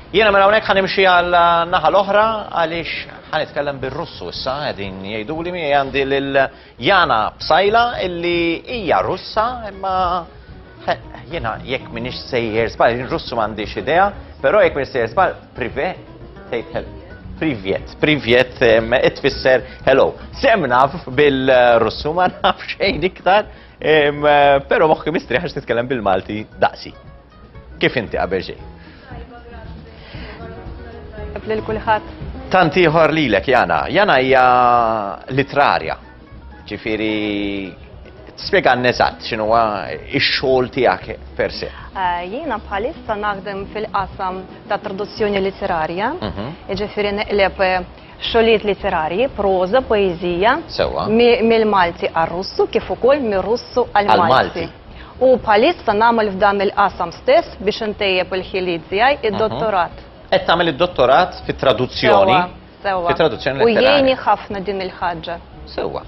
Jiena minn hawnhekk ħa nimxi għal naħa l-oħra għaliex ħa nitkellem bir-Russu issa qegħdin jgħiduli miegħi għandi lil Jana Psajla illi hija Russa imma jiena jekk m'iniex sejjer żball, Russu m'għandix idea, però jekk m'iniex sejjer żball, prive tgħid Privet, privet, it-tfisser hello. Semna bil-Russu ma nafx xejn iktar, pero moħħi mistriħax nitkellem bil-Malti daqsi. Kif inti qabel xejn? Tajba, grazzi. Lil kulħadd. Tant ieħor lilek Jana. Jana hija litrarja. Ġifieri Spiega n-nesat, xinu għa il-xol tijak per se. Eh, jiena bħalissa naħdem fil-qasam ta' traduzzjoni letterarja, mhm. ġifiri neqleb eh, Xogħlijiet litterarji, proża, poeżija, Sewwa. mill-Malti għar-Russu kif ukoll mir-Russu għall-Malti. Għall-Malti. U bħalissa nagħmel f'dan il-qasam stess biex intejjeb il-ħiliet tiegħi id-dottorat. Qed tagħmel id-dottorat fit-traduzzjoni? Sewwa, sewwa. Fit-traduzzjoni U letterarja. jgħinni ħafna din il-ħaġa. Sewwa.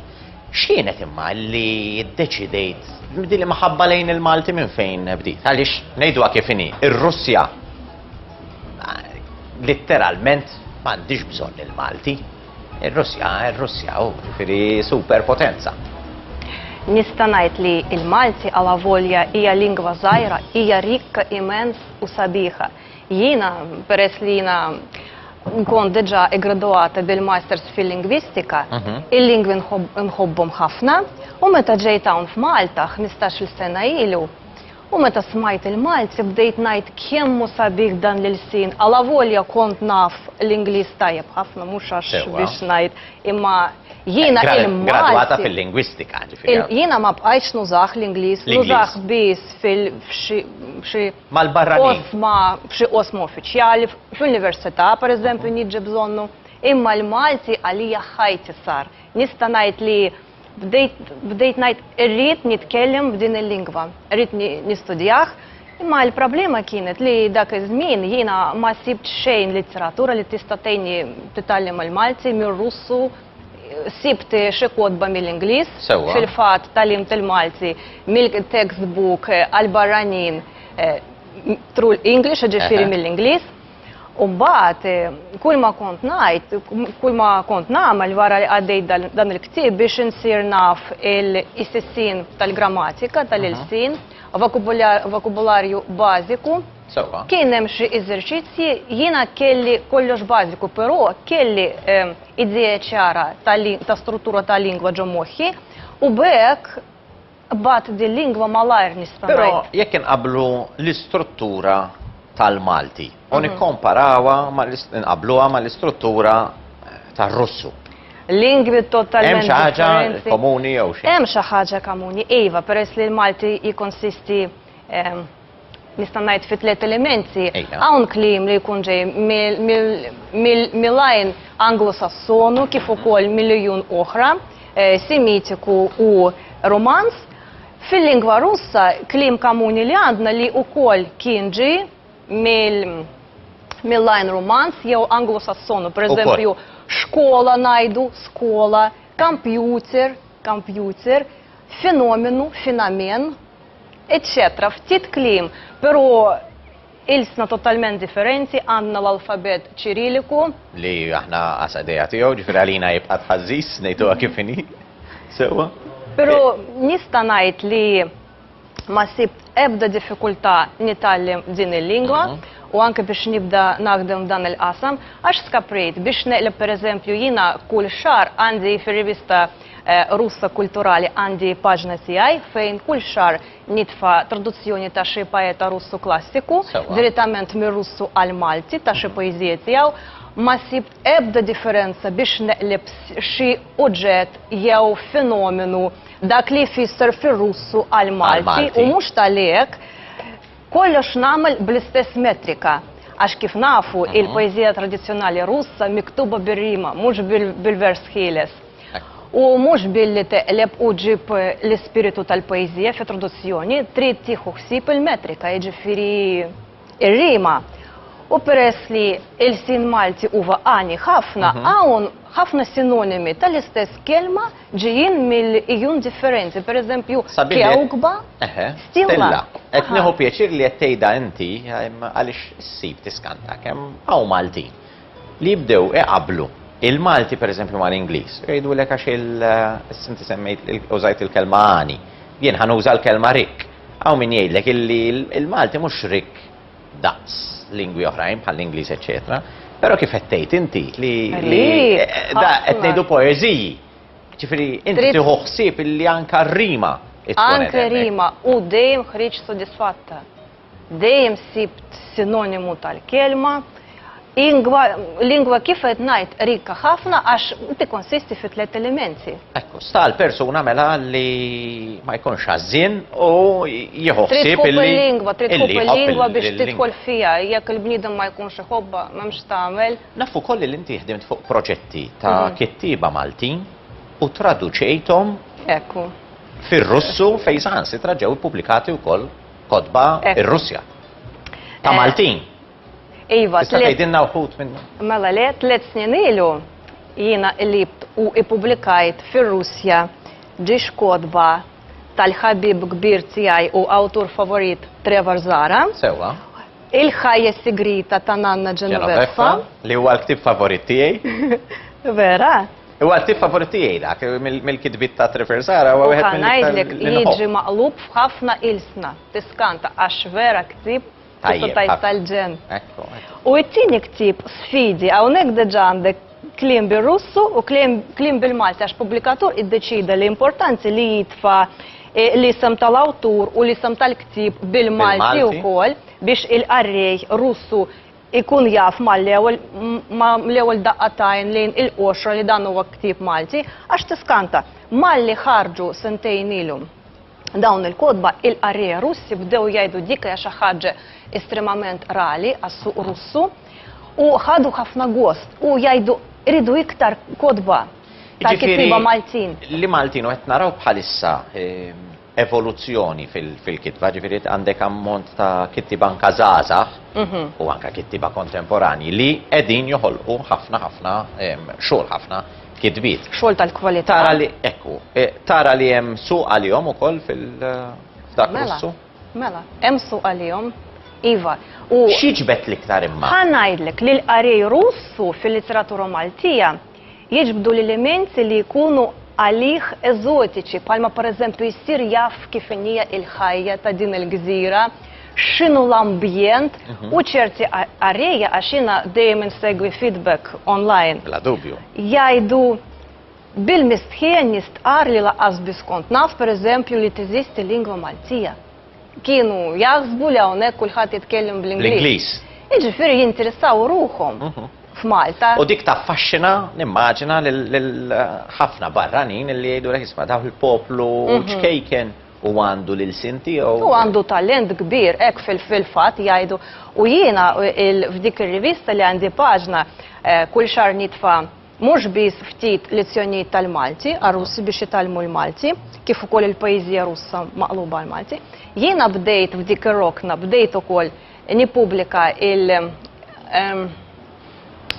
X'kienet imma li ddeċidejt din l-imħabba lejn il-Malti minn fejn bdiet? Għaliex ngħiduha kif inhi, ir-Russja Litteralment m'għandix bżonn il-Malti. Ir-Russja, ir-Russja, u ġifieri superpotenza. Nista' ngħid li l-Malti għala volja hija lingwa żgħira, hija rikka immens u sabiħa. Jiena peress li jiena nkun diġa iggraduata bil-masters fil-lingwistika, mhm. il-lingwi nħobbhom ħafna, u meta ġejt hawn f'Malta 15-il sena ilu, U meta smajt il-Malti bdejt ngħid kemm hu sabiħ dan l-ilsien alavolja kont naf l-Ingliż tajjeb ħafna mhux għax biex ngħid imma jiena il-Malti. Gradwata fil-lingwistika ġifieri. Jiena ma bqajtx nużah l-Ingliż, nużah biss f'xi oqsma, f'xi qosma uffiċjali, fl-università pereżempju nieġi bżonnu. Imma l-Malti għalija ħajti sar. Nista' ngħid li. Bdejt, bdejt ngħid irrid nitkellem b'din il-lingwa, irrid nistudjah, imma l-problema kienet li dak iż-żmien jiena ma sibt xejn litteratura li tista' tgħinni titgħallem il-Malti mir-Russu, sibt xi kotba mill-Ingliż, fil-fatt tgħallimt il-Malti mill-textbook għall-barranin through English, jiġifieri mill-Ingliż. U mbagħad eh, kull ma kont ngħid, kull ma kont nagħmel wara li għaddejt dan il-ktieb biex insir naf il-sissin tal-grammatika tal-ilsin, vokabularju bażiku. Kien hemm xi eżerċizzji jiena kelli kollox bażiku, però kelli eh, idea ċara ta' struttura tal-lingwa ġo moħħi u bekk Qbadt dil-lingwa malajr nista' ngħid. Però jekk inqabblu l-istruttura tal-Malti u nikkomparawha ma' inqabbluha mal-istruttura tar-Russu. Lingwi totalment differenti. Hemm xi ħaġa komuni jew xi? Hemm xi ħaġa komuni, iva, peress li l-Malti jikkonsisti nista' ngħid fi tliet elementi, hawn kliem li jkun ġej mill-lajn Anglo-Sassonu kif ukoll mill-ijun oħra, eh, Semitiku u Romanz. Fil-lingwa Russa kliem kamuni li għandna li ukoll kien ġi mill-lajn Romanz jew Anglo-Sassonu, pereżempju xkola ngħidu skola, computer, computer, fenomenu, fenamen, eċċetera Ftit kliem, però ilsna totalment differenti, għandna l-alfabet Ċiriliku. Li aħna għas idea tiegħu, ġifieri għalina jibqa' tħażżiż ngħiduha kif inhi. Sewwa? Però nista' ngħid li ma sibt ebda diffikultà nitgħallem din il-lingwa u anke biex nibda naħdem f'dan il-qasam għax skaprejt biex neqleb pereżempju jiena kull xahar għandi fir-rivista Russa Kulturali għandi paġna tiegħi fejn kull xahar nitfa' traduzzjoni ta' xi paeta Russu klassiku, direttament mir-Russu għall-Malti ta' xi poeżiji tiegħu. Ma sib ebda differenza biex neqleb xi uġġett jew fenomenu dak li jfisser fir-Russu għall-Malti u mhux talli hekk, kollox nagħmel bl-istess metrika. Għax kif nafu, il-poeżija tradizzjonali Russa miktuba bir-rima, mhux bil-vers ħieles. U mhux billi teqleb u ġġib l-ispiritu tal-poeżija f'introduzzjoni, trid tieħu ħsieb il-metrika, jiġifieri r-rima. U peress li l-ilsien Malti huwa għani ħafna, hawn ħafna sinonimi tal-istess kelma ġejjin mill-ijun differenti, pereżempju, kewkba, stilla. Qed nieħu pjaċir li qed tgħidha inti, għaliex issib tiskanta kemm hawn Maltin. li jibdew iqabblu il-Malti pereżempju mal-Ingliż. Jgħidulek għax il, issa inti semmejt, użajt il-kelma għani. Jien ħa nuża l-kelma rikk. Hawn min jgħidlek illi l-Malti mhux rikk daqs lingwi oħrajn bħall-Ingliż eċċetera, però kif qed tgħid inti li li qed ngħidu poeżiji. Ġifieri inti tieħu ħsieb illi anke r-rima tkun hemm. Anke rima u dejjem ħriġt sodisfatta. Dejjem sibt sinonimu tal-kelma. Ingwa, lingwa kif qed ngħid rika ħafna għax tikkonsisti fi tliet elementi. Ekku, sta l-persuna mela li ma jkunx ħażin u jieħu ħsieb illi. lingwa trid tkun il-lingwa biex tidħol fiha, jekk il-bniedem ma jkunx iħobba, m'hemmx tagħmel. Nafu koll li inti ħdimt fuq proġetti ta' mhm. kittieba Maltin u traduċejthom Ekku. Fir-Russu fejn saħansitra ġew ippubblikati wkoll Kotba eh. ir-Russja. Ta' eh. Maltin. Iva, tista' tgħidilna wħud minnu. Mela le tliet snin ilu jiena qlibt u ippubblikajt fir-Russja ġiex kotba tal-ħabib kbir tiegħi u awtur favorit Trevor Zara. Sewa. Il-ħajja sigrita ta' Nanna Genoveffa. Li huwa l-ktib favorit tiegħi. Vera. Huwa l-ktieb favorit tiegħi dak, mill-kitbiet ta' Trevor Sara huwa wieħed mill-iktar. U ngħidlek jiġi maqlub f'ħafna ilsna, tiskanta għax vera ktieb tajjeb tal-ġen. U t-tieni ktieb sfidi hawnhekk diġà għandek kliem bir-Russu u kliem bil-Malti għax pubblikatur iddeċida li importanti li jitfa' eh, l-isem tal-awtur u l-isem tal-ktieb bil-Malti wkoll biex il-qarrej Russu ikun jaf mal-ewwel ma' l-ewwel daqqa ta' għajn lejn il-qoxra li dan huwa ktieb Malti, għax tiskanta. Malli ħarġu sentejn ilu dawn il-kotba, il-qarrejja Russi bdew jgħidu dik hija xi ħaġa estremament rali għas-suq Russu u ħadu ħafna gost u jgħidu rridu iktar kotba tal-kittieba Maltin. Jiġifieri li Maltin u qed naraw bħalissa evoluzzjoni fil-kitba, ġifieri għandek ammont ta' kittiba anke żgħażagħ u anke kittiba kontemporanji li qegħdin joħolqu ħafna ħafna xogħol, ħafna kitbiet. Xogħol tal-kwalità. Tara li, ekku, tara li hemm suq għalihom ukoll f'dak l-issu? Mela, hemm suq għalihom, iva. U x'jiġbed l-iktar imma? Ħa ngħidlek li l-qari Russu fil-litteratura Maltija jiġbdu l-elements li jkunu għalih eżotiċi bħalma pereżempju jsir jaf kif inhi l-ħajja ta' din il-gżira, x'inhu l-ambjent u ċerti qarrejja għax jiena dejjem insegwi feedback online. Bla dubju. Jgħidu bil-mistħija n-nies tqar li lanqas biss kont naf pereżempju li teżisti lingwa Maltija. kienu jaħsbu li hawnhekk kulħadd jitkellem bl-Ingliż. Jiġifieri jinteressaw ruħhom f'Malta. U dik taffaxxina, nimmaġina, lil ħafna barranin li jgħidulek isma' daw il-poplu ċkejken u għandu l-ilsien tiegħu. U għandu talent kbir, hekk fil-fatt jgħidu. U jiena f'dik ir-rivista li għandi paġna kull xahar nitfa' Mhux biss ftit lezzjonijiet tal-Malti għar-Russi biex jitgħallmu l-Malti, kif ukoll il-poeżija Russa maqluba għall-Malti. Jiena bdejt f'dik ir-rokna, bdejt ukoll nippubblika il, ehm,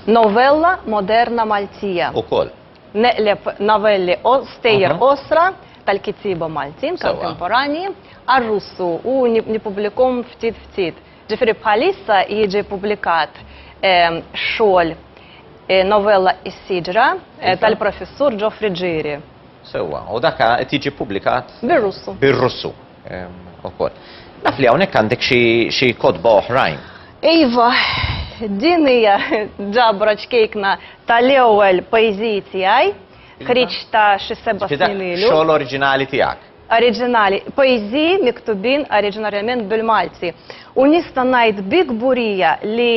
novella moderna Maltija. Ukoll. Neqleb novelli qo, stejjer qosra tal-kittieba Maltin, kontemporanji, għar-Russu u nippubblikhom ftit ftit. Ġifieri bħalissa jiġi ppubblikat xogħol novella Is-Siġra tal-Professur Ġo Friggieri. Sewwa, u dak qed jiġi ppubblikat? Bir-Russu. Bir-Russu ukoll. Naf li hawnhekk għandek xi kotba oħrajn. Iva, din hija ġabra ċkejkna tal-ewwel poeżiji tiegħi, ħriġt ta' xi seba' snin ilu. Xogħol oriġinali tiegħek. oriġinali, poeżiji miktubin oriġinarjament bil-Malti. U nista' ngħid bi kburija li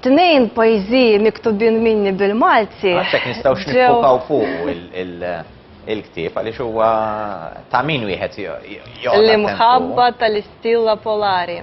tnejn poeżiji miktubin minni bil-Malti. Għalhekk nistgħux niffukaw fuqu il-ktieb għaliex huwa ta' min wieħed joqgħod. L-imħabba tal-istilla polari.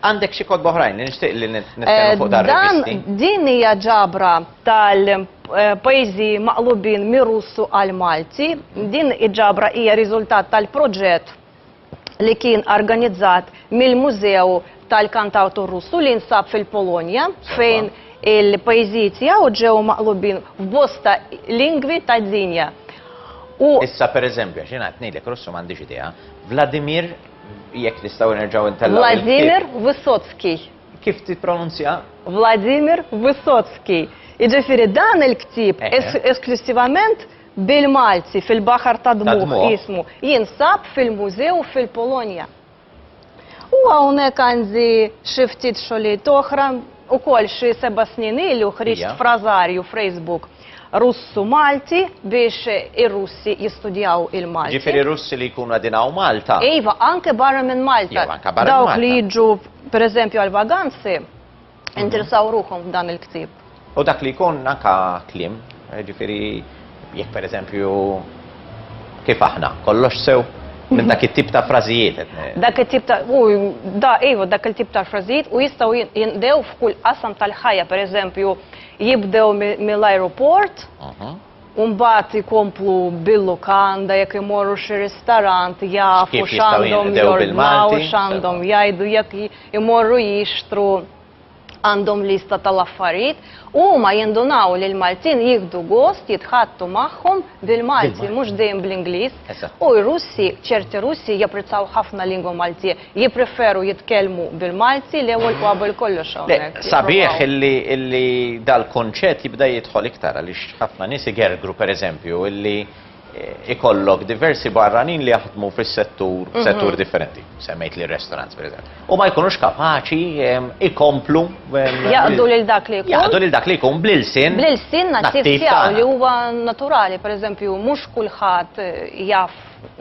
Għandek xi kotba oħrajn li nixtieq li nitkellmu fuq dar rivisti? Eh, din hija ġabra tal-pajjiżi eh, maqlubin mir-Russu għal Malti. Din iġabra hija riżultat tal-proġett li kien organizzat mill-Mużew tal-Kantawtur Russu li nsab fil-Polonja fejn il-pajjiżiet jew ġew maqlubin f'bosta lingwi tad-dinja. Issa per eżempju, xina għatnilek Russu m'għandix idea, Vladimir Jekk nistgħu nerġgħu ntellgħu. Vladimir Wysocki. Kif tippronunzja? Vladimir Wysocki. Jiġifieri dan il-ktieb eh, eh. esklusivament bil-Malti fil-Baħar ta' Dmuħ jismu jinsab fil-mużew fil-Polonja. U hawnhekk għandi xi ftit xogħlijiet oħra Ukoll xi seba' snin ilu ħriġt frażarju frejsbuk Russu-Malti biex ir-Russi jistudjaw il-Malti. Ġifieri Russi li jkunu qegħdin hawn Malta. Iva, anke barra minn Malta. Jew anke barra minn Malta. Dawk li jiġu pereżempju għall-vaganzi interessaw ruħhom f'dan il-ktieb. U dak li jkun anke kliem, jiġifieri, Jekk pereżempju kif aħna, kollox sew minn dak it-tip ta' frażijiet. Dak it-tip ta' u da iva dak il-tip ta' frażijiet u jistgħu jindew f'kull qasam tal-ħajja, pereżempju jibdew mill-ajruport, Umbat ikomplu bil-lukanda jekk imorru xi ristorant jafu x'għandhom jordnaw, x'għandhom jgħidu jekk imorru jixtru għandhom lista tal-affarijiet u huma jindunaw li l-Maltin jieħdu gost jitħaddtu magħhom bil-Malti mhux dejjem bl-Ingliż u r-Russi, ċerti Russi japprezzaw ħafna l-lingwa Maltija, jippreferu jitkellmu bil-Malti l-ewwel u qabel kollox hawnhekk. Sabiħ illi dal-kunċett jibda jidħol iktar għaliex ħafna nies igergru pereżempju illi, ikollok diversi barranin li jaħdmu fis-settur settur differenti. Semmejt li restaurants pereżempju. U ma jkunux kapaċi em, ikomplu em, Jaqdu lil dak li jkun. jaqdu lil dak li jkun bl-ilsin. Bl-ilsin nattiv nattiv tiegħu tagħna. li huwa naturali, pereżempju, mhux kulħadd eh, jaf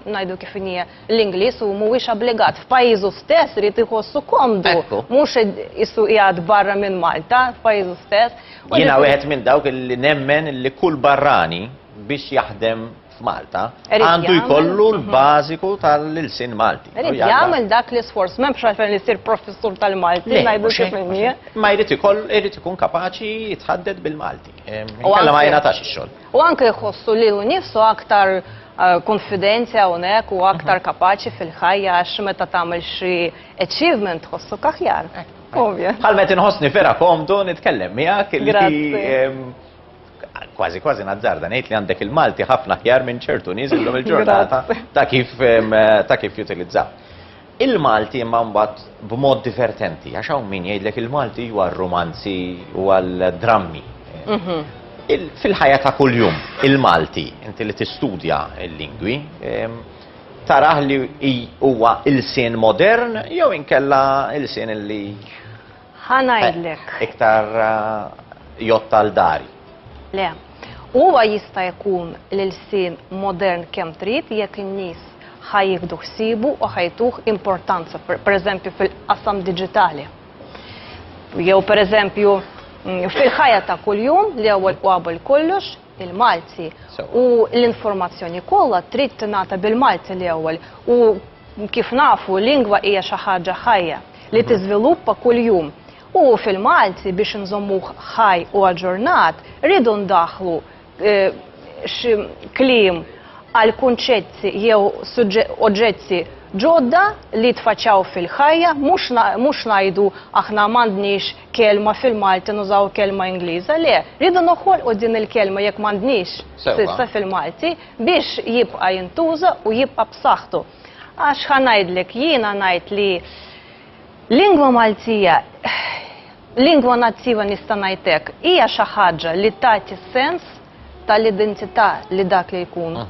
ngħidu kif inhi l-Ingliż u mhuwiex obbligat f'pajjiżu stess irid iħossu komdu. Ekku. Mhux id- issu qiegħed barra minn Malta f'pajjiżu stess. U Jiena li- wieħed minn dawk li nemmen li kull barrani biex jaħdem f'Malta għandu jkollu l-bażiku tal-ilsien Malti. Irid jagħmel dak l-isforz, m'hemm xalfejn li jsir professur tal-Malti, ngħidu xi Ma jrid ikoll irid ikun kapaċi jitħadded bil-Malti. Kollha ma jingħatax ix-xogħol. U anke jħossu li hu nifsu aktar eh, konfidenza hawnhekk u aktar mhm. kapaċi fil-ħajja għax meta tagħmel xi achievement tħossu kaħjar. Bħal meta inħossni vera komdu nitkellem miegħek li Kważi kważi nazzarda ngħid li għandek il-Malti ħafna aħjar minn ċertu nies illum il-ġurnata ta' kif ta' kif jutilizza. Il-Malti imma mbagħad b'mod divertenti, għax hawn min jgħidlek il-Malti huwa r-romanzi u għall-drammi. Mhm. Fil-ħajja ta' kuljum, il-Malti, inti li tistudja l-lingwi, taraħ li huwa il-sien modern jew inkella il-sien li Ħa ngħidlek. Iktar jott għal dari. Le. Huwa jista' jkun l-ilsien modern kemm trid jekk in-nies ħa jieħdu ħsiebu u ħa jtuh importanza, pereżempju fil-qasam diġitali. Jew pereżempju fil-ħajja ta' kuljum li ewwel u qabel kollox il-Malti u l-informazzjoni kollha trid tingħata bil-Malti l-ewwel u kif nafu lingwa hija xi ħaġa ħajja li tiżviluppa kuljum. U fil-Malti biex inżommuh ħaj u aġġornat rridu ndaħħlu eh, xi kliem għal kunċetti jew oġġetti ġodda li tfaċċaw fil-ħajja mhux ngħidu aħna m'għandniex kelma fil-Malti nużaw kelma Ingliża, le, rridu noħolqu din il-kelma jekk m'għandniex s'issa fil-Malti biex jibqa' jintuża u jibqa' b'saħħtu. Għax ħa ngħidlek, jiena ngħid li lingwa Maltija, lingwa nattiva nista' ngħid hekk, hija xi ħaġa li tagħti s-sens tal-identità li dak li jkun.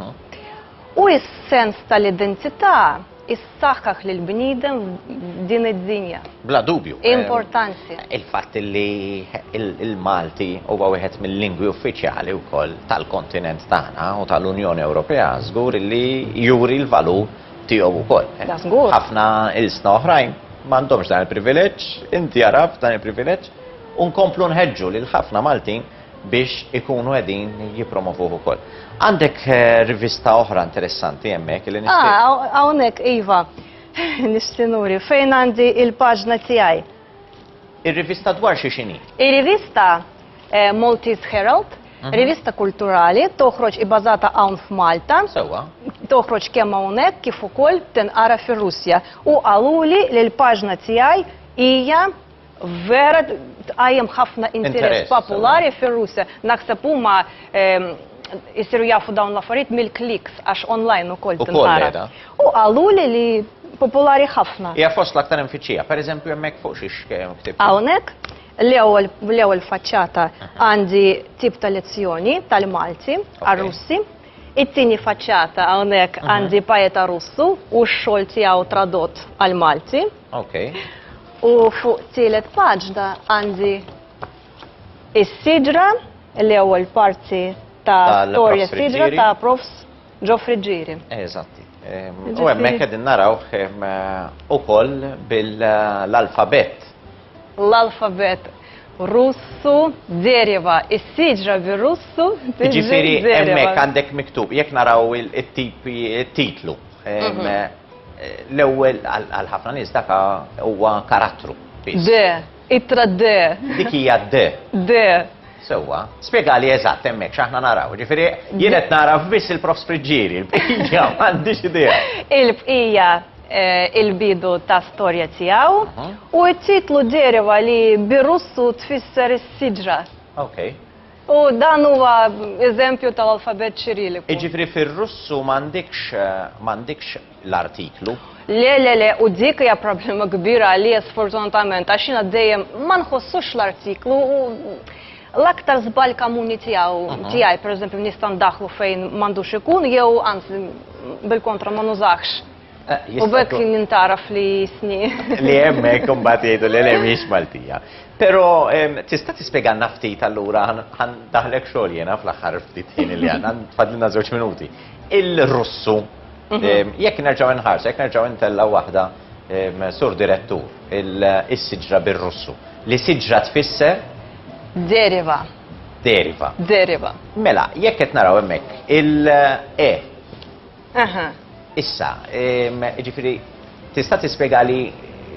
U s-sens tal-identità jsaħħaħ lill-bniedem f'din id-dinja. Bla dubju. Importanti. Il-fatt li l-Malti huwa wieħed mill-lingwi uffiċjali wkoll tal-kontinent tagħna u tal-Unjoni Ewropea żgur li juri l-valur tiegħu wkoll. Da żgur. Ħafna ilsna oħrajn m'għandhomx dan il-privileġġ, inti għaraft dan il-privileġġ, u nkomplu nħeġġu lil ħafna Maltin biex ikunu qegħdin jippromovuh ukoll. Għandek eh, rivista oħra interessanti hemmhekk li nixtieq. Ah, hawnhekk iva. Nistinuri, fejn għandi il-paġna tiegħi. Ir-rivista dwar xi xini? Ir-rivista eh, Maltese Herald, mhm. rivista kulturali, toħroġ ibbażata hawn f'Malta. Sewwa. Toħroġ kemm hawnhekk kif ukoll tinqara fir-Russja. U qaluli li l-paġna tiegħi hija vera tqajjem ħafna interess popolari fir-Russja. Naħseb huma ehm, jisiru jafu dawn l-affarijiet mill-kliks għax online ukoll tinqara. U qalu li li popolari ħafna. Hija fost l-aktar infittxija, pereżempju hemmhekk fuq xi ktib. Hawnhekk l-ewwel faċċata għandi tip ta' lezzjoni tal-Malti għar-Russi. It-tieni faċċata hawnhekk għandi pajeta Russu u x-xogħol tiegħu tradott għal Malti. Ok. U fuq tielet paġna għandi is-sidra li ewwel parti ta' storja sidra ta' Profs Ġofri Ġiri. Eżatti. Ehm, u hemmhekk qegħdin naraw ehm, ukoll bil-alfabet. L-alfabet Russu Zerjeva, is-siġra bir-Russu. Ġifieri hemmhekk għandek miktub, jekk naraw it-titlu. Ehm, mhm. L-ewwel għal ħafna nies dak huwa karattru. De, ittra de. Dik hija de. De. Sewwa, spjegali eżatt hemmhekk x'aħna naraw. Ġifieri jien qed naraf biss il-prof Spriġġieri, l-bqija m'għandix idea. Il-bqija Eh, il-bidu ta' storja tiegħu u t-titlu deriva li birussu tfisser is-siġra. Okay. U dan huwa eżempju ta' alfabet ċiriliku. Iġifri fir-Russu m'għandikx m'għandikx l-artiklu. Le, le, le, u dik hija problema kbira li sfortunatament għax jiena dejjem ma nħossux l-artiklu u l-aktar żball kamuni tiegħu mhm. tiegħi pereżempju nista' ndaħlu fejn m'għandux ikun jew anzi bil-kontra ma nużax. U bekk jintgħaraf li sni. Li hemmhekk imbagħad jgħidu li le mhix Maltija. Però tista' tispjegalna ftit allura ħan daħlek xogħol jiena fl-aħħar ftit ħin li għandna, tfadlilna żewġ minuti. Il-Russu, jekk nerġgħu nħarsu, jekk nerġgħu ntellgħu waħda sur direttur, is-siġra bir-Russu. Li siġra tfisser? Deriva. Deriva. Deriva. Mela, jekk qed naraw hemmhekk il-E. Aha. Issa, jiġifieri tista' tispjegali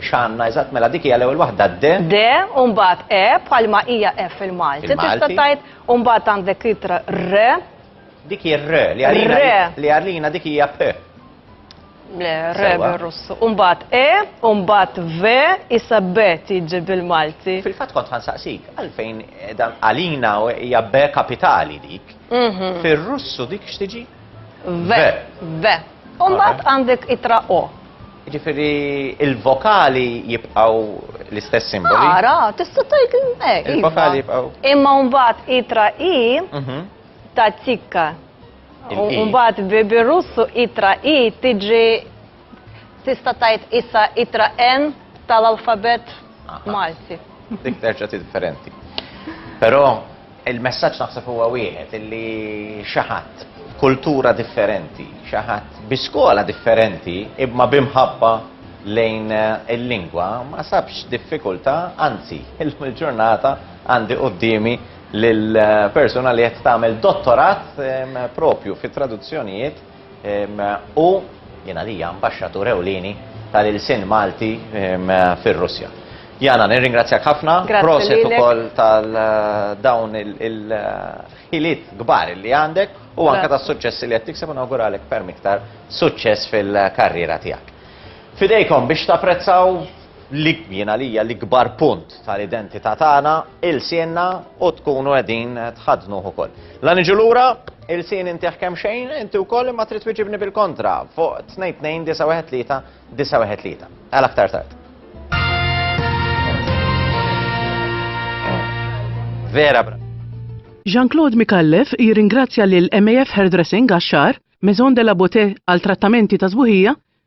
x'għandna eżatt mela dik hija l-ewwel waħda d. D u mbagħad E bħalma hija E fil-Malti. Tista' tgħid u mbagħad għandek itra R. Dik hi R li għalina li għalina dik hija P. Le, R bir-Russu. U mbagħad E, u mbagħad V, issa B tiġi bil-Malti. Fil-fatt kont ħansaqsik għalfejn dan għalina hija B kapitali dik. Fir-Russu dik x'tiġi? V. V. U mbagħad għandek itra O. Ġifieri il-vokali jibqgħu l-istess simboli. Ara, tista' tgħid eh, iva. il-vokali jibqgħu. Imma mbagħad itra I mhm. ta' tikka. Mbagħad bi russu itra I tiġi Tista' tgħid issa ittra N tal-alfabett Malti. Dik terġa' differenti. Però il-messaġġ naħseb huwa wieħed illi xi ħadd b'kultura differenti, xi ħadd bi skola differenti imma bi mħabba lejn il-lingwa ma sabx diffikultà, anzi, illum il-ġurnata għandi quddiemi lil persuna li qed tagħmel dottorat propju fit-traduzzjonijiet Hu jien għalija Ambaxxatur ewlieni tal-ilsien Malti fir-Russja. Jana, nirringrazzjak ħafna, proset ukoll tal dawn il-ħiliet kbar li għandek u anke tas-suċċessi li qed tikseb u nawguralek ferm iktar suċċess fil-karriera tiegħek. Fidejkom biex tapprezzaw li jien għalija l-ikbar punt tal-identità tagħna ilsienna u tkunu qegħdin tħaddnuh ukoll. La niġu lura, ilsien intih kemm xejn, inti wkoll imma trid twiġibni bil-kontra fuq 2-2-9-1-3-9-1-3. Għal aktar tard. Vera bra. Jean-Claude Mikallef jirringrazzja lil MAF Hairdressing għax-xagħar, Maison de la Beauté għal trattamenti ta' sbuħija,